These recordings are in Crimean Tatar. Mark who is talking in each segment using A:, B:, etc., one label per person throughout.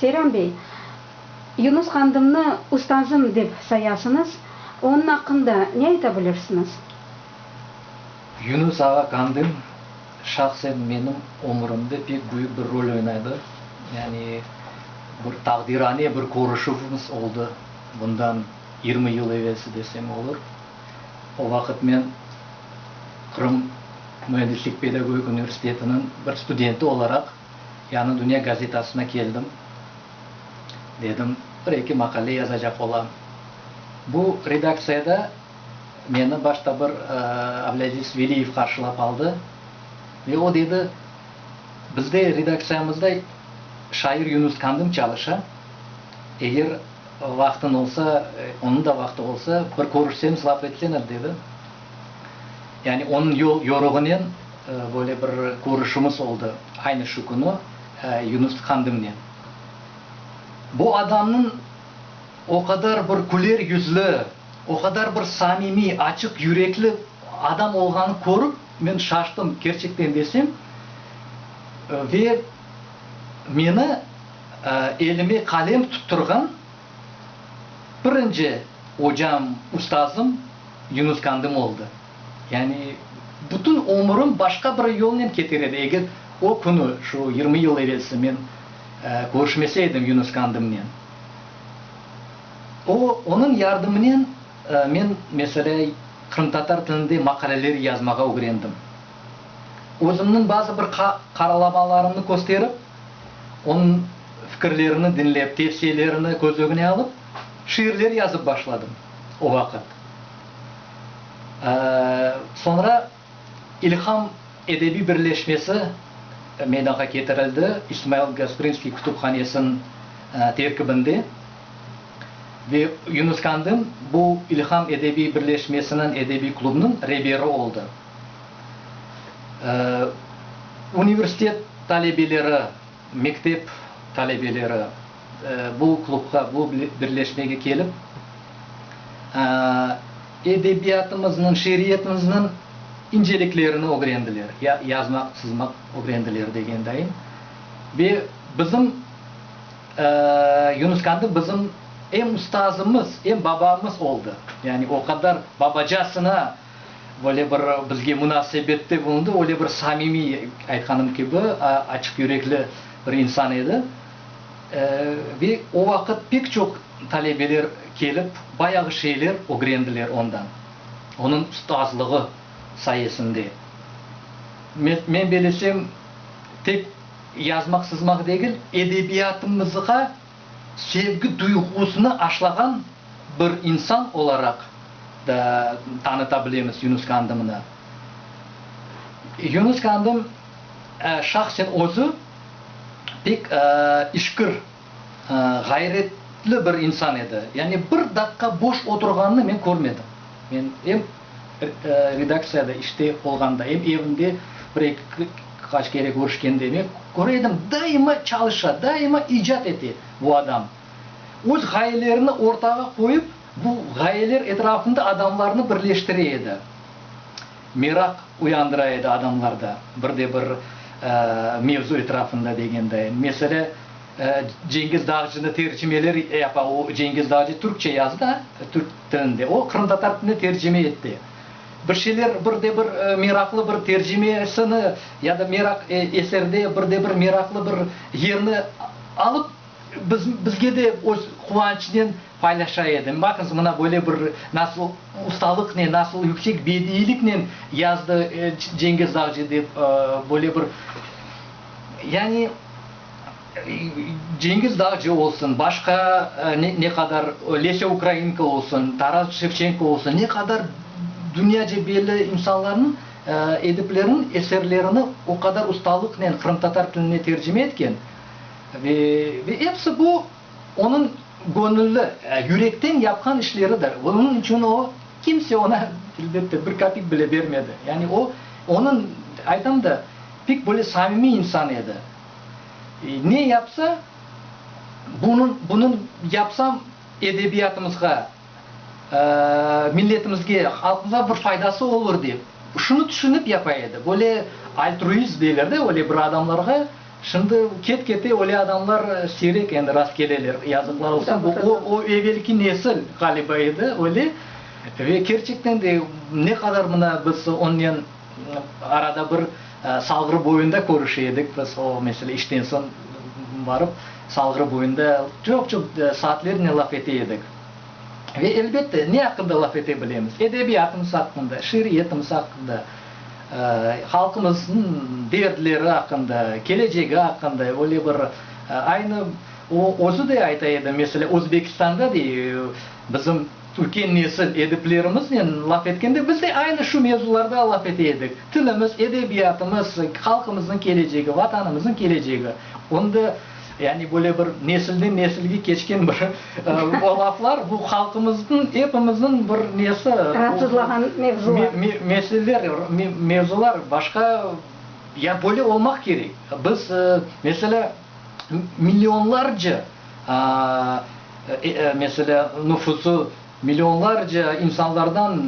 A: Seyran bey, Yunus Qandımnı ustazım dep sayasıñız, onıñ aqqında ne ayta bilirsiñiz? Yunus ağa Qandım şahsen menim ömürimde pek büyük bir rol oynadı. Yani bir taqdirane bir körüşüvimiz oldı, bundan yirmi yıl evelsi desem olur. O vaqıt men Qırım müendislik-pedagogik universitetiniñ bir studenti olaraq, Yañı Dünya gazetasına keldim. Dedim, bir-eki maqale yazacaq olam. Bu redaktsiyada meni başta bir Avlâziz Veliyev qarşılap aldı ve o dedi, Bizde redaktsiyamızda şair Yunus Kandım çalışa, eger vaqtıñ olsa, onıñ da vaqtı olsa, bir körüşsemiz laf etsene, dedi. Yani onıñ yol-yoruğınen böyle bir körüşümiz oldı, aynı şu künü Yunus Tkandımnen. Bu adamnıñ o qadar bir küler yüzlü, o qadar bir samimiy, açıq yürekli adam olğanı körip, men şaştım, kerçekten desem. Ve meni elime qalem tutturğan. Birinci ocam, ustazım Yunus Kandımı oldı. Yani bütün ömürim başqa bir yolnen keter edi, eger o künü, şu yirmi yıl evelsi men körüşmese edim Yunus Kandımnen. O, onıñ yardımınen men, meselâ, qırımtatar tilinde maqaleler yazmağa ögrendim. Özümniñ bazı bir qaralamalarımnı kösterip, Onıñ fikirlerini diñlep, tevsiyelerini köz ögüne alıp, şiirler yazıp başladım o vaqıt. Soñra İlham edebiy birleşmesi meydanğa ketirildi, İsmail Gasprinskiy kütüphanesiniñ terkibinde. Ve Yunus Kandın bu İlham edebiy birleşmesiniñ, edebiy klubnıñ reberi oldı. Universitet talebeleri, mektep talebeleri bu klubğa, bu birleşmege kelip, edebiyatımıznıñ, şiiriyetimizniñ inceliklerini ögrendiler, yazmaq, çızmaq ögrendiler degendeyim. Ve bizim, Yunus Kandı bizim em ustazımız, em babamız oldı. Yani o qadar babacasına. böyle bir bizge munasebette bulundı, öyle bir samimiy, aytqanım kibi, açıq yürekli bir insan edi. Ve o vaqıt pek çoq talebeler kelip, bayağı şeyler ögrendiler ondan, onıñ ustazlığı sayesinde. Men belesem, tek yazmaq-sızmaq degil, edebiyatımızğa, sevgi duyğusını aşlağan bir insan olaraq da tanıta bilemiz Yunus Kandımnı. Yunus Kandım şahsen özü pek işkir, ğayretli bir insan edi. Yani bir daqqa boş oturğanını men körmedim. Men em. Redaktsiyada işte olğanda em evinde bir-eki qaç kere körüşkende men köre edim, daima çalışa, daima icat ete bu adam. Öz ğayelerini ortağa qoyıp, bu ğayeler etrafında adamlarnı birleştire edi, meraq uyandıra edi adamlarda bir de bir mevzu etrafında degenday. Mesele. Cengiz Dağcını tercimeler yapa. O, Cengiz Dağcı türkçe yazdı da, türk tilinde. O, qırımtatar tiline tercime etti. Bir şeyler, bir de bir meraqlı bir tercimesini ya da meraq, eserde bir de bir meraqlı bir yerni alıp, biz, bizge de öz quvançınen paylaşa edi. Baqıñız, mına böyle bir, nasıl ustalıqnen, nasıl yüksek bediyliknen yazdı Cengiz Dağcı dep, böyle bir, yani. Cengiz Dağcı olsun, başqa ne qadar Lesâ Ukrainka olsun, Taras Şevçenko olsun, ne qadar dünyaca belli insanlarnıñ, ediplerniñ eserlerini o qadar ustalıqnen qırımtatar tiline tercime etken. Ve episi bu, onıñ göñülli, yürekten yapqan işleridir. Bunıñ içün o, kimse oña, elbette, bir kapik bile bermedi. Yani o, onıñ, aytam da, Pek böyle samimiy insan edi. Ne yapsa, bunıñ, bunıñ yapsam edebiyatımızğa, milletimizge, halqımıza bir faydası olur dep, şunı tüşünip yapa edi. Böyle altruist deyler de, öyle bir adamlarğa, şimdi ket-kete öyle adamlar siyrek endi rast keleler, yazıqlar olsun. Bu o, o evelki nesil ğaliba edi, öyle. Ve kerçekten de ne qadar mına biz onnen. Arada bir Salğır boyunda körüşe edik biz, o, mesele, işten soñ barıp, Salğır boyunda çoq-çoq saatlernen laf ete edik. Ve, elbette, ne aqqında laf ete bilemiz? Edebiyatımız aqqında, şiiriyetimiz aqqında, halqımıznıñ dertleri aqqında, kelecegi aqqında, öyle bir, aynı o, özü de ayta edi, mesele, Özbekistanda, dey, bizim, Türkiy nesil ediplerimiznen laf etkende, biz de aynı şu mevzularda laf ete edik. Tilimiz, edebiyatımız, halqımıznıñ kelecegi, Vatanımıznıñ kelecegi. Ondi, yani böyle bir nesilden nesilge keçken bir o laflar, bu halqımıznıñ, epimizniñ bir nesi, Ratsızlağan mevzular. Meseleler, mevzular başqa, ya böyle olmaq kerek. Biz, mesela. millionlarca, meselâ, nüfusu millionlarca insanlardan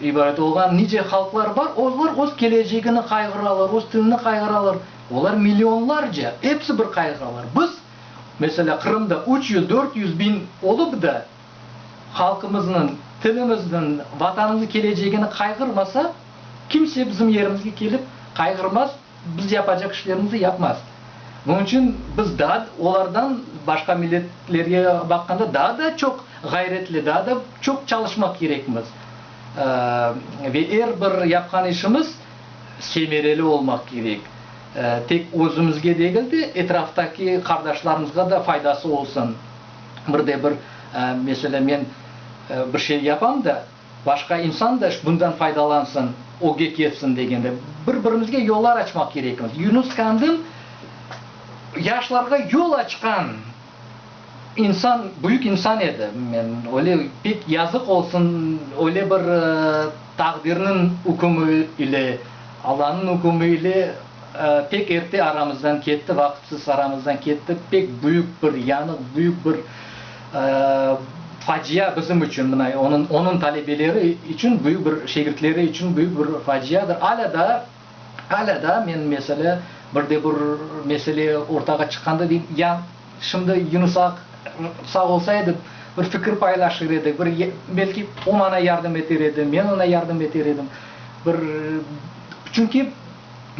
A: ibaret olğan nice halqlar bar, olar öz kelecegini qayğıralar, öz tilini qayğıralar. Olar millionlarca, episi bir qayğıralar. Biz, meselâ, Qırımda üç yüz, dört yüz biñ olıp da, halqımıznıñ, tilimizniñ, Vatanımıznıñ kelecegini qayğırmasa, kimse bizim yerimizge kelip qayğırmaz. Biz yapacaq işlerimizni yapmaz. Bunıñ içün biz daa olardan, başqa milletlerge baqqanda daa da çoq ğayretli, daa da çoq çalışmaq kerekmiz. Ve er bir yapqan işimiz semereli olmaq kerek. Tek özümizge degil de, etraftaki qardaşlarımızğa da faydası olsun. Bir de bir, meselâ, men bir şey yapam da, Başqa insan da bundan faydalansın, öge ketsin degende, bir-birimizge yollar açmaq kerekmiz. Yunus Kandil yaşlarğa yol açqan insan, büyük insan edi. Men öyle pek yazıq olsun, öyle bir taqdirniñ ükümi ile, Allanıñ ükümi ile pek erte aramızdan ketti, vaqıtsız aramızdan ketti. Pek büyük bir yanıq, büyük bir. Facia bizim içün, mına, onıñ, onıñ talebeleri içün büyük bir, şegirtleri içün büyük bir faciadır. Alâ daa, alâ daa men, meselâ, bir de bir mesele ortağa çıqqanda deyim, ya, şimdi Yunus ağa sağ olsa edi, bir fikir paylaşır edi, bir, belki, o maña yardım eter edi, men oña yardım eter edim. Bir, çünki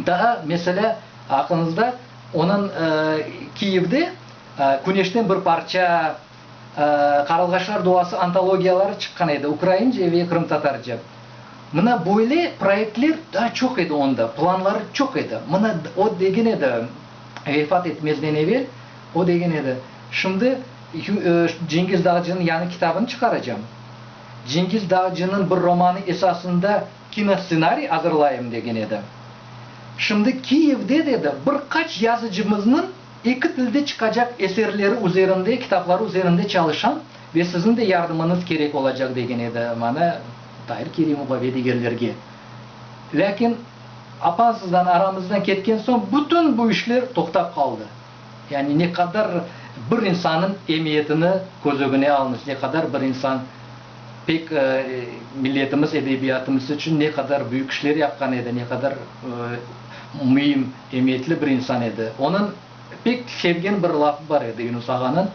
A: daa, meselâ, aqlınızda onıñ Kiyevde, Küneşten bir parça, Qaralğaçlar duası antologiyaları çıqqan edi, ukraince ve qırımtatarca. Mına böyle proyektler daa çoq edi onda, planları çoq edi. Mına o degen edi, vefat etmezden evel o degen edi, şimdi Cengiz Dağcınıñ yañı kitabını çıqaracam, Cengiz Dağcınıñ bir romanı esasında kinossenariy azırlayım degen edi. Şimdi Kiyevde, dedi, bir qaç yazıcımıznıñ, Eki tilde çıqacaq eserleri üzerinde, kitapları üzerinde çalışam ve siziñ de yardımıñız kerek olacaq, degen edi maña Tahir Kerimovğa ve digerlerge. Lâkin apansızdan aramızdan ketken soñ bütün bu işler toqtap qaldı. Yani ne qadar bir insannıñ emiyetini köz ögüne alınız, ne qadar bir insan pek milletimiz, edebiyatımız içün ne qadar büyük işler yapqan edi, ne qadar müim. Emiyetli bir insan edi. Onıñ pek sevgen bir lafı bar edi, Yunus ağanıñ,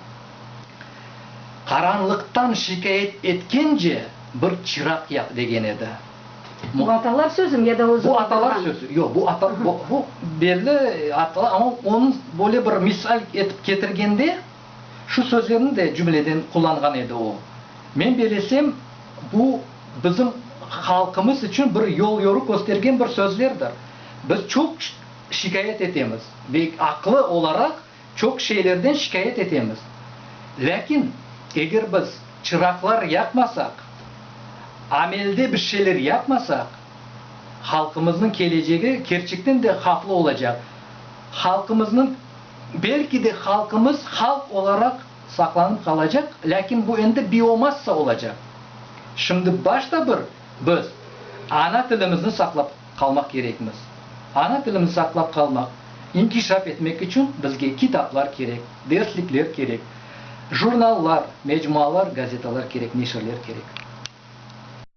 A: Qaranlıqtan şikâyet etkence, bir çıraq yaq, degen edi. Bu atalar sözü mi ya da özü? Bu atalar sözü. Yoq, bu ata, bu, bu belli atalar, amma onıñ böyle bir misal etip ketirgende, şu sözlerni de cümleden qullanğan edi o. Men belesem, bu bizim halqımız içün bir yol-yoruq köstergen bir sözlerdir. Biz çoq şikâyet etemiz ve aqlı olaraq çoq şeylerden şikâyet etemiz. Lâkin eger biz çıraqlar yaqmasaq, amelde bir şeyler yapmasaq, halqımıznıñ kelecegi kerçekten de havflı olacaq. Halqımıznıñ, belki de halqımız halq olaraq saqlanıp qalacaq, lâkin bu endi biomassa olacaq. Şimdi başta bir biz ana tilimizni saqlap. Qalmaq kerekmiz. Ana tilimiz saqlap qalmaq, inkişaf etmek içün bizge kitaplar kerek, derslikler kerek, jurnallar, mecmualar, gazetalar kerek, neşirler kerek.